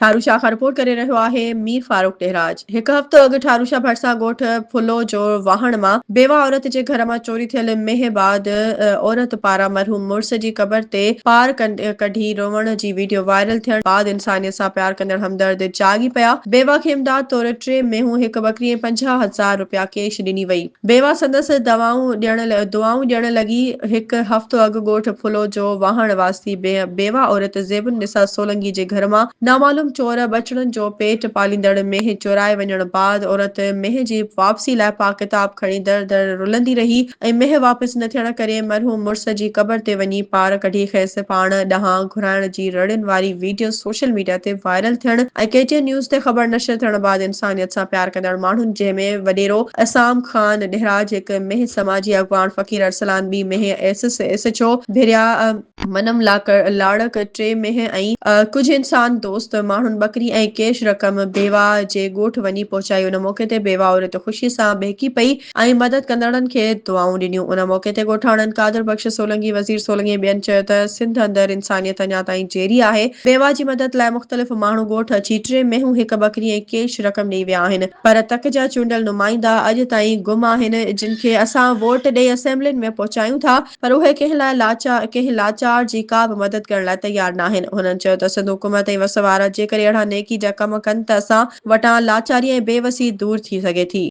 ٺاروشاه کان رپورٽ ڪري رهيو آهي مير فاروق ڏهراج هڪ هفتو اڳ ٺاروشاه ڀرسان ڳوٺ ڦلو جو واهڻ مان بيواه عورت جي گهر مان چوري ٿيل مينهن بعد عورت پاران مرحوم مڙس جي قبر تي پار ڪڍي روئڻ جي ويڊيو وائرل ٿيڻ بعد انسانيت سان پيار ڪندڙ همدرد جاڳي پيا بيواه کي امداد طور ٽي مينهون هڪ ٻڪري ۽ پنجاهه هزار رپيا ڪيش ڏني وئي. بيوه سندس دوائون ڏيڻ دعائون ڏيڻ لڳي. هڪ هفتو اڳ ڳوٺ ڦلو جو واهڻ واسطي بيوه عورت زيب النساء سولنگي جي گهر مان نامعلوم چور ٻچڙن جو پيٽ پاليندڙ مينهن چورائي وڃڻ بعد عورت مينهن جي واپسي لاء پاڪ ڪتاب کڻي در در رلندي رهي ۽ مينهن واپس نه ٿيڻ ڪري مرحوم مڙس جي قبر تي وڃي پار ڪڍي کيس پاڻ ڏانهن گهرائڻ جي رڙين واري ويڊيو سوشل ميڊيا تي وائرل ٿيڻ ۽ ڪي ٽي اين نيوز تي خبر نشر ٿيڻ بعد انسانيت سان پيار ڪندڙ ماڻهن جنهن ۾ وڏيرو عصام خان ڏهراج، هڪ مينهن سماجي اڳواڻ فقير ارسلان، ٻي مينهن S S H O Bhiria, منم لاڙڪ، ٽي مينهن ۽ ڪجهه انسان دوست ماڻهن ٻڪري ۽ ڪيش رقم بيواهه جي ڳوٺ وڃي پهچائي ان موقعي تي بيواهه عورت خوشي سان ٻهڪي پئي ۽ مدد ڪندڙن کي دعائون ڏنيون. ان موقعي تي ڳوٺاڻن قادر بخش سولنگي، وزير سولنگي ۽ ٻين چيو ته سنڌ اندر انسانيت اڃا تائين جيئري آهي، بيوا جي مدد لاء مختلف ماڻهو ڳوٺ اچي ٽي مينهون، هڪ ٻڪري ۽ ڪيش رقم ڏئي ويا آهن پر تڪ جا چونڊيل نمائندا اڄ تائين گم آهن جن کي اسان ووٽ ڏئي اسيمبلين ۾ پهچايون ٿا پر اهي ڪنهن لاء لاچار ڪنهن لاچار جي ڪا به مدد ڪرڻ لاء تيار ناهن هنن چيو ته سنڌ حڪومت ۽ وس وارا جيڪڏهن اهڙا نيڪي جا ڪم ڪن ته اسان وٽان لاچاري ۽ بيوسي دور ٿي سگهي ٿي.